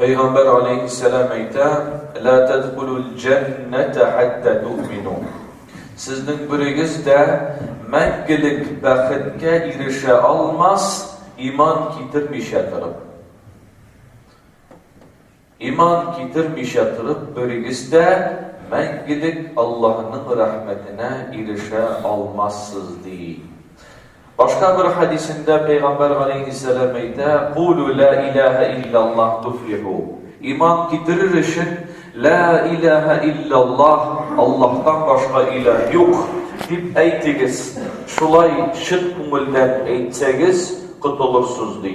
Пәйгамбәр алейхиссәлам әйтә, «Ла тадхулул джанната хатта ту'мину». Сезнең берегез дә мәңгелек бәхеткә ирешә алмас, иман китермичә торып. Иман китермичә торып, берегез дә мәңгелек Аллаһның рәхмәтенә ирешә алмассыз ди. Башка бер хәдисендә Пәйгамбәр галәйһиссәлам әйтә, Кулу лә иләһә илляллаһ туфлиху. Иман китерер өчен, Лә иләһә илляллаһ, Аллаһтан башка илаһ юк, дип әйтегез. Шулай чын күңелдән әйтсәгез, котылырсыз, ди.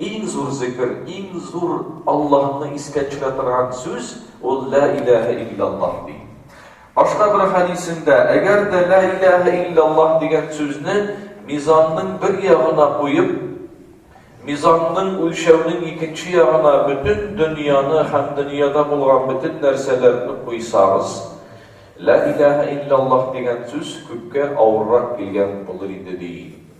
Иң зур зикер, иң зур Аллаһны искә төшерә торган сүз ул лә иләһә илляллаһ ди. Башка бер хәдисендә, әгәр дә лә иләһә илляллаһ дигән сүзне мизанның бер ягына куеп, мизанның үлчәүнең икенче ягына бөтен дөньяны һәм дөньяда булган бөтен нәрсәләрне куйсагыз, лә иләһә илляллаһ дигән сүз күпкә авыррак килгән булыр иде ди.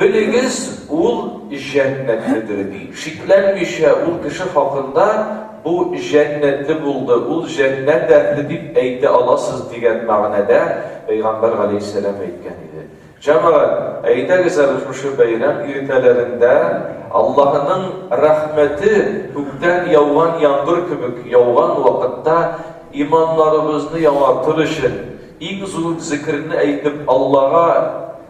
Белегез, ул җәннәт хәтере, ди. Шикләнмичә, ул кеше хакында, бу җәннәте булды, ул җәннәт әһле дип әйтә аласыз, дигән мәгънәдә пәйгамбәр галәйһиссәлам әйткән иде. Җәмәгать, әйдәгез әле шушы бәйрәм иртәләрендә Аллаһының рәхмәте күктән яуган яңгыр кебек яуган вакытта иманнарыбызны яңартыр өчен иң зур зикерне әйтеп Аллага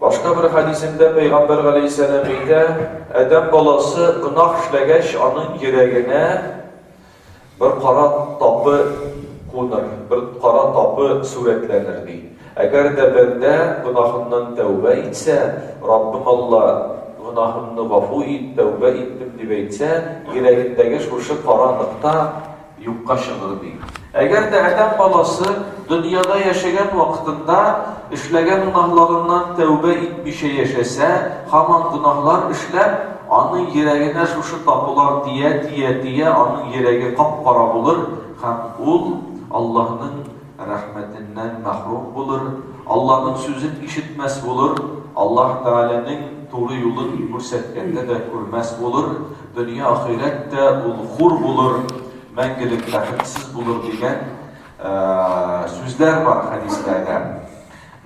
Башка бер хәдисендә пәйгамбәр галәйһиссәлам әйтә, Адәм баласы гөнаһ эшләгәч, аның йөрәгенә бер кара тапы куныр, бер кара тапы сурәтләнер, ди. Әгәр дә бәндә гөнаһыннан тәүбә итсә, Раббым Алла, гөнаһымны гафу ит, тәүбә иттем, дип әйтсә, йөрәгендәге шушы кара нокта юкка чыгыр, ди. Әгәр дә адәм баласы дөньяда яшәгән вакытында эшләгән гөнаһларыннан тәүбә итмичә яшәсә, һаман гөнаһлар эшләп, аның йөрәгенә шушы табулар тия-тия-тия аның йөрәге кап-кара булыр һәм ул Аллаһның Рәхмәтеннән мәхрүм булыр, Алланың сүзен ишетмәс булыр, Аллаһ Тәгаләнең туры юлын күрсәткәндә дә күрмәс булыр, дөнья ахирәт тә ул хур булыр, мәңгелек бәхетсез булыр дигән сүзләр бар хәдисләрдә.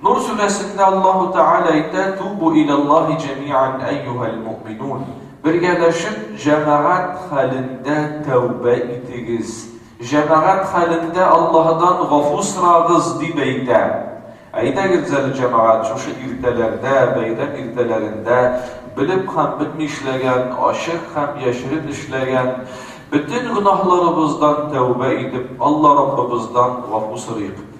Нур сүрәсендә Аллаһу Тәгалә әйтә, Тубу иләллаһи җәмиан әйюһәл муъминун. Бергәләшеп, җәмәгать хәлендә тәүбә итегез, Җәмәгать хәлендә Аллаһыдан гафу сорагыз, дип әйтә. Әйдәгез әле, җәмәгать, шушы иртәләрдә, бәйрәм иртәләрендә, белеп һәм белми эшләгән, ачык һәм яшерен эшләгән бөтен гөнаһларыбыздан тәүбә итеп, Алла Раббыбыздан гафу сорыйк.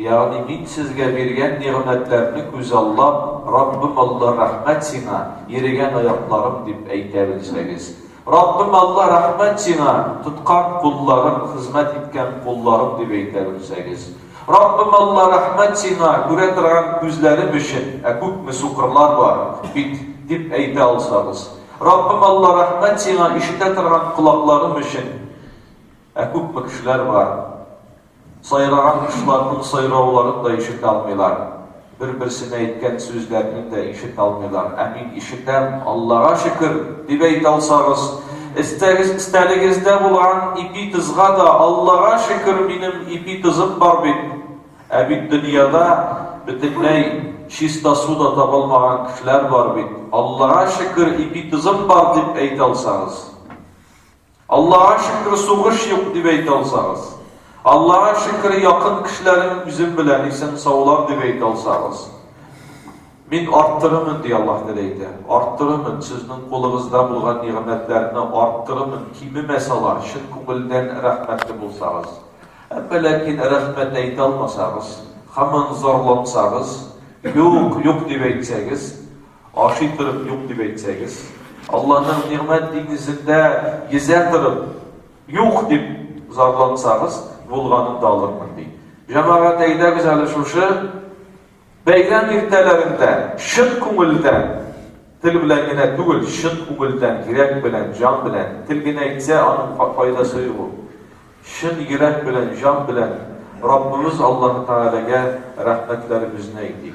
Ягъни мин сезгә биргән нигъмәтләрне күзаллап, Раббым Алла, рәхмәт Сиңа, ерегән аякларым, дип әйтә белсәгез. Раббым Алла, рәхмәт Сиңа, тоткан кулларым, хезмәт иткән кулларым, дип әйтә белсәгез. Раббым Алла, рәхмәт Сиңа, күрә торган күзләрем өчен, ә күпме сукырлар бар бит, дип әйтә алсагыз. Раббым Алла, рәхмәт Сиңа, ишетә торган колакларым өчен. Ә күпме кешеләр бар, сайраган кошларның сайрауларын да ишетә алмыйлар, бер-берсенә әйткән сүзләрнен дә ишетә алмыйлар, ә мин ишетәм, Аллага шөкер! дип әйтә алсагыз, эстәгез, эстәлегездә булган ипи тызга да, Аллага шөкер, минем ипи тызым бар бит! Ә бит дөньяда бөтенләй чиста су да таба алмаган кешеләр бар бит, Аллага шөкер, ипи тызым бар! дип әйтә алсагыз. Аллага шөкер, сугыш юк, дип әйтә алсагыз. Аллага шөкер, якын кешеләрем үзем белән исән саулар дип әйтә алсагыз. Мин арттырырмын, ди Аллаһ Тәгалә әйтә. Арттырырмын, сезнең кулыгызда булган нигъмәтләрне арттырырмын, кимемәс алар, чын күңелдән рәхмәтле булсагыз. Әмма ләкин рәхмәт әйтә алмасагыз, һаман зарлансагыз, юк, юк дип әйтсәгез, Ашый торып юк дип әйтсәгез, Алланың нигъмәт диңгезендә йөзә торып юк дип зарлансагыз, булганын да алырмын, ди. Җәмәгать, әйдәгез әле шушы бәйрәм иртәләрендә чын күңелдән, тел белән генә түгел, чын күңелдән, йөрәк белән, җан белән, тел генә әйтсә, аның файдасы юк ул. Чын йөрәк белән, җан белән Раббыбыз Аллаһы Тәгаләгә рәхмәтләребезне әйтик.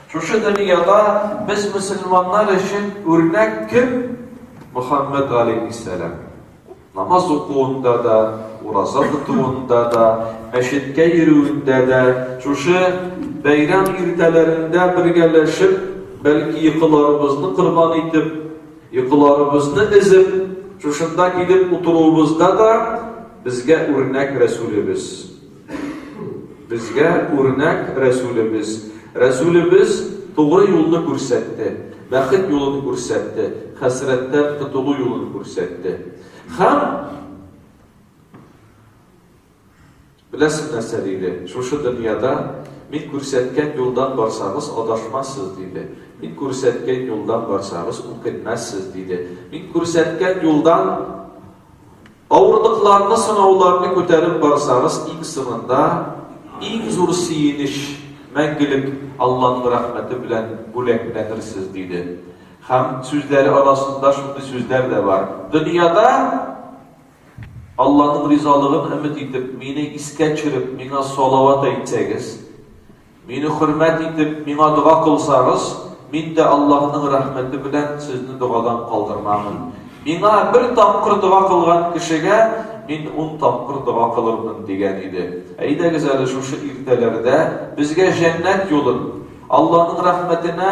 Шушы дөньяда без мөселманнар өчен үрнәк кем? Мөхәммәд галәйһиссәлам. Намаз укуында да, ураза тотуында да, мәчеткә йөрүендә дә, шушы бәйрәм иртәләрендә бергәләшеп, бәлки йокыларыбызны корбан итеп, йокыларыбызны эзеп, шушында килеп утыруыбызда да безгә үрнәк Рәсүлебез. Безгә үрнәк Рәсүлебез. Рәсүлебез тугры юлны күрсәтте, бәхет юлын күрсәтте, хәсрәттән котылу юлын күрсәтте. Һәм Беләсез нәрсә диде? Шушы дөньяда мин күрсәткән юлдан барсагыз, адашмассыз диде. Мин күрсәткән юлдан барсагыз, үкенмәссез диде. Мин күрсәткән юлдан Авырлыкларны, сынауларны күтәреп барсагыз, иң соңында иң зур сөенеч, мәңгелек Алланың рәхмәте белән бүләкләнерсез, диде. Һәм сүзләре арасында шундый сүзләр дә бар. Дөньяда Алланың ризалыгын өмет итеп, мине искә төшереп, миңа салават әйтсәгез, Мине хөрмәт итеп, миңа дога кылсагыз, мин дә Аллаһның рәхмәте белән сезне догадан калдырмамын. Миңа бер тапкыр дога кылган кешегә мин ун тапкыр дога кылырмын, дигән иде. Әйдәгез әле шушы иртәләрдә безгә җәннәт юлын, Аллаһның рәхмәтенә,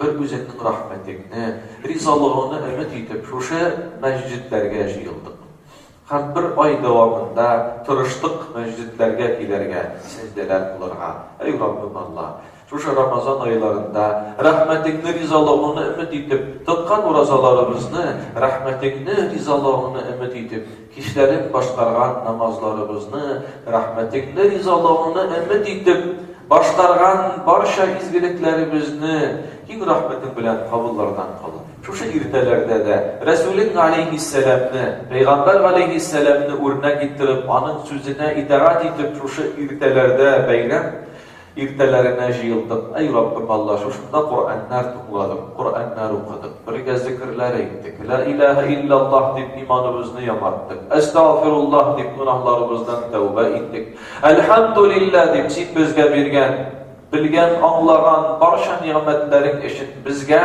Бер үзеңнең рәхмәтеңне, ризалыгыңны өмет итеп, шушы мәсҗидләргә җыелдык. Һәм бер ай дәвамында тырыштык мәсҗидләргә килергә, сәҗдәләр кылырга. Әй Раббым Алла! Шушы Рамазан айларында рәхмәтеңне, ризалыгыңны өмет итеп, тоткан уразаларыбызны рәхмәтеңне, ризалыгыңны өмет итеп, Кичләрен башкарган намазларыбызны, рәхмәтеңне, ризалыгыңны өмет итеп, башкарган барча изгелекләребезне киң рәхмәтең белән кабуллардан кыл. Шушы иртәләрдә дә Рәсүлең галәйһиссәламне, пәйгамбәр галәйһиссәламне үрнәк иттереп, аның сүзенә итагать итеп, шушы иртәләрдә бәйрәм Иртәләренә җыелдык, Әй Раббым Алла, шушында Коръәннәр тыңладык, Коръәннәр укыдык, бергә зекерләр әйттек, Лә иләһә илляллаһ дип иманыбызны яңарттык, Әстәгъфируллаһ дип гөнаһларыбыздан тәүбә иттек, Әлхәмдүлилләһ дип Син безгә биргән, белгән, аңлаган барча нигъмәтләрең өчен, безгә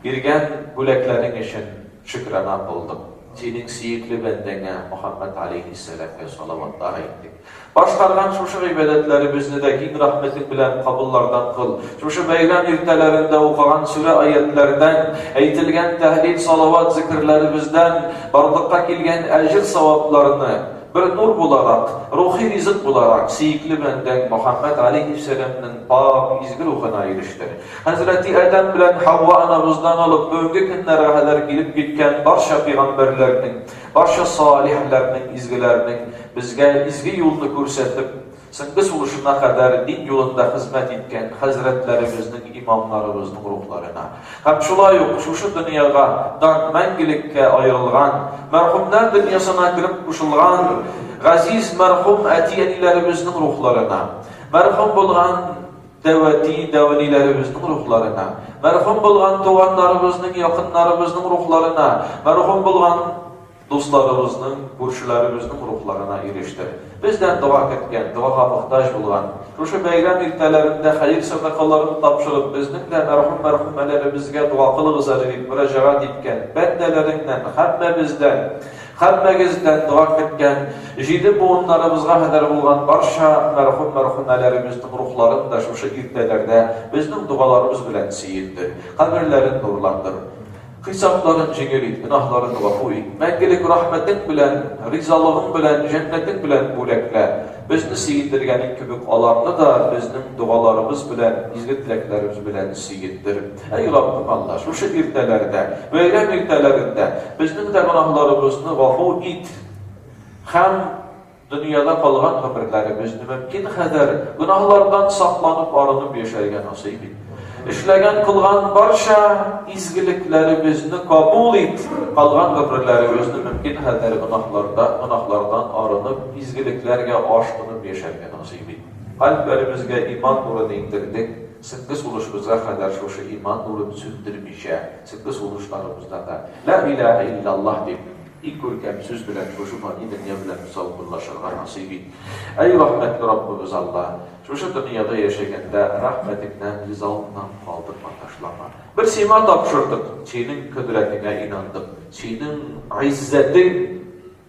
биргән бүләкләрең өчен, Шөкранә кылдык. Синең сөекле бәндәңә, Мөхәммәд галәйһиссәламгә салаватлар әйттек. Башкарган шушы гыйбадәтләребезне дә киң рәхмәтең белән кабуллардан кыл. Шушы бәйрәм иртәләрендә укыган сүрә-аятьләрдән, әйтелгән тәһлил-салават зикерләребездән барлыкка килгән әҗер-савапларны, бер нур буларак, рухи ризык буларак, сөекле бәндәң Мөхәммәд галәйһиссәламнең пакь, изге рухына ирештер. Хәзрәти Адәм белән Һава анабыздан алып бүгенге көннәргә кадәр килеп киткән барча пигамбәрләрнең, барча салихләрнең, изгеләрнең безгә изге юлны күрсәтеп, соңгы сулышына кадәр дин юлында хезмәт иткән хәзрәтләребезнең, имамнарыбызның рухларына һәм шулай ук шушы дөньяга дан мәңгелеккә аерылган, мәрхүмнәр дөньясына кереп кушылган газиз мәрхүм әти-әниләребезнең рухларына, мәрхүм булган Тәвәти дәвалиләребезнең рухларына, мәрхүм булган туганнарыбызның, якыннарыбызның рухларына, мәрхүм булган дусларыбызның, күршеләребезнең рухларына ирештер. Бездән дога көткән, догага мохтаҗ булган, шушы бәйрәм иртәләрендә хәер сәдакаларын тапшырып, безнең дә мәрхүм-мәрхүмәләребезгә дога кылыгыз әле дип мөрәҗәгать иткән бәндәләреңнән, һәммәбездән Һәммәгездән дога көткән, җиде буыннарыбызга хәдәр булган барча мәрхүм-мәрхүмәләребезнең рухларын да шушы иртәләрдә безнең догаларыбыз белән сөендер, каберләрен нурландыр. Хисапларын җиңел ит, гөнаһларын гафу ит. Мәңгелек рәхмәтең белән, ризалыгың белән, җәннәтең белән бүләклә. Безне сөендергәнең кебек, аларны да безнең догаларыбыз белән, изге теләкләребез белән сөендер. Әй Раббым Алла, шушы иртәләрдә, бәйрәм иртәләрендә безнең дә гөнаһларыбызны гафу ит һәм дөньяда калган гомерләребезне мөмкин кадәр гөнаһлардан сакланып, арынып яшәргә насыйп ит. Эшләгән, кылган барча изгелекләребезне кабул ит, калган гомерләребезне мөмкин кадәр гөнаһларда, гөнаһлардан арынып, изгелекләргә ашкынып яшәргә насыйп ит. Кальпләребезгә иман нурын иңдердек, Сезнге сулышыбызга кадәр шушы иман нурын сүндермичә, сезнге сулышларыбызда да Ла илаһә илляллаһ дип, иң күркәм сүз белән шушы фани дөнья белән саубуллашырга насыйп ит. Әй рәхмәтле Раббыбыз Алла! Шушы дөньяда яшәгәндә рәхмәтеңнән, ризалыгыңнан калдырма, ташлама. Бер Сиңа тапшырдык, Синең кодрәтеңә инандык, Синең гыйззәтең,